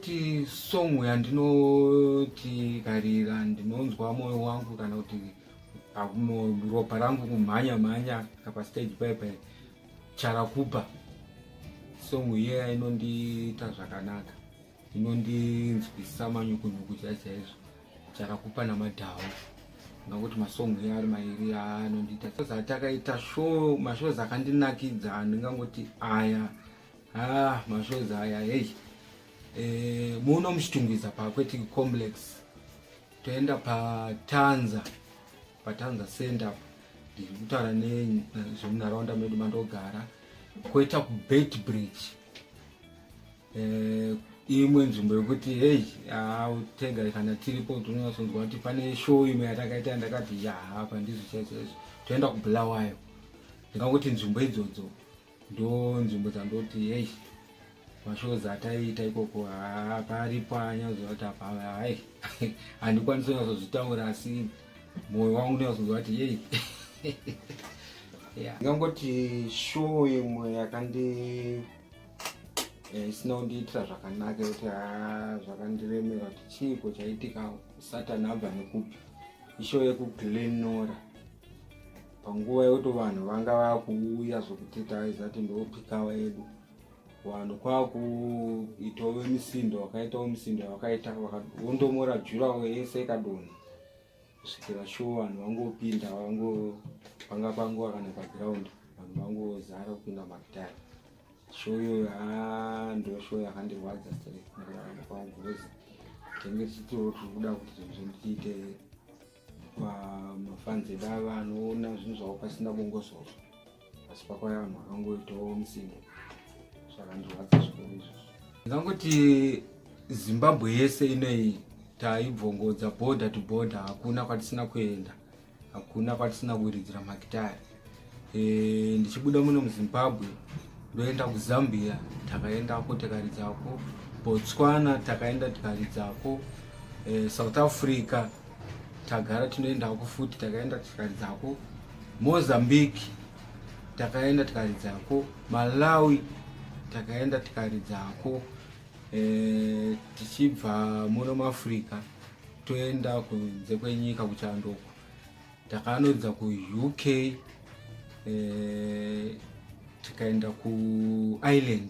kuti song yandinotikarira ndinonzwa moyo wangu kana kuti ropa rangu kumhanya mhanya apa stage pepe charakupa song iye inondiita zvakanaka inondinzwisa manyukunyuku chaichaizvo charakupa namadhawo ngakuti masong iye ari mairi anondiita atakaita show mashows akandinakidza ndingangoti aya Ah, mashozi aya hey. Eh, muno muchitungwiza paAquatic Complex. Toenda paTanza. PaTanza Center apo. Ndiri kutaura nenyu zvemunharaunda medu mandogara. Koita kuBait Bridge. Eh, imwe nzvimbo yekuti hey, autega kana tiripo tinonasonzwa kuti pane show imwe yatakaita ndakati ya hapa ndizvo chaizvo. Toenda kuBulawayo. Ndingakuti nzvimbo idzodzo. ndo nzvimbo dzandoti hei mashows ataiita ikoko haa paripo anyazovati apa hai handikwanisi kunyazozvitaura asi mwoyo wangu unyazonzwa kuti yei ndingangoti show imwe yakandi eh, isina kundiitira zvakanaka yekuti haa zvakandiremera kuti chiiko chaitika satani abva nekupi ishow yekuglenora panguva yekuti vanhu vanga vakuuya zvekuti taizati ndopikawa edu vanhu kwakuitawo misindo wakaitawo misindo wakaita vondomora jurawo yese ikadonha kusvikira sho vanhu vangopinda vango panga pango kana paground vanhu vangozara kupinda magitari sho iyoyo haa ndo sho yakandirwadza straight nekurarama kwangu vese tenge tichitiro tiri kuda kuti zvinhu zvindiite Pamafans edu ava anoona zvinhu zvavo pasina bongosoro asi pakauya vanhu vakangoitawo musinde zvakandirwadza zvikuru izvo ndingangoti zimbabwe yese inoyi taibvongodza border to border hakuna kwatisina kuenda hakuna kwatisina kuridzira makitari eh, ndichibuda muno muzimbabwe ndoenda kuzambia takaendako tikaridzako botswana takaenda tikaridzako eh, south africa tagara tinoendako futi takaenda tikaridzako mozambique takaenda tikaridzako malawi takaenda tikaridzako eh, tichibva muno muafrica toenda kunze kwenyika kuchandoko Takanoedza kuUK eh, tikaenda kuIreland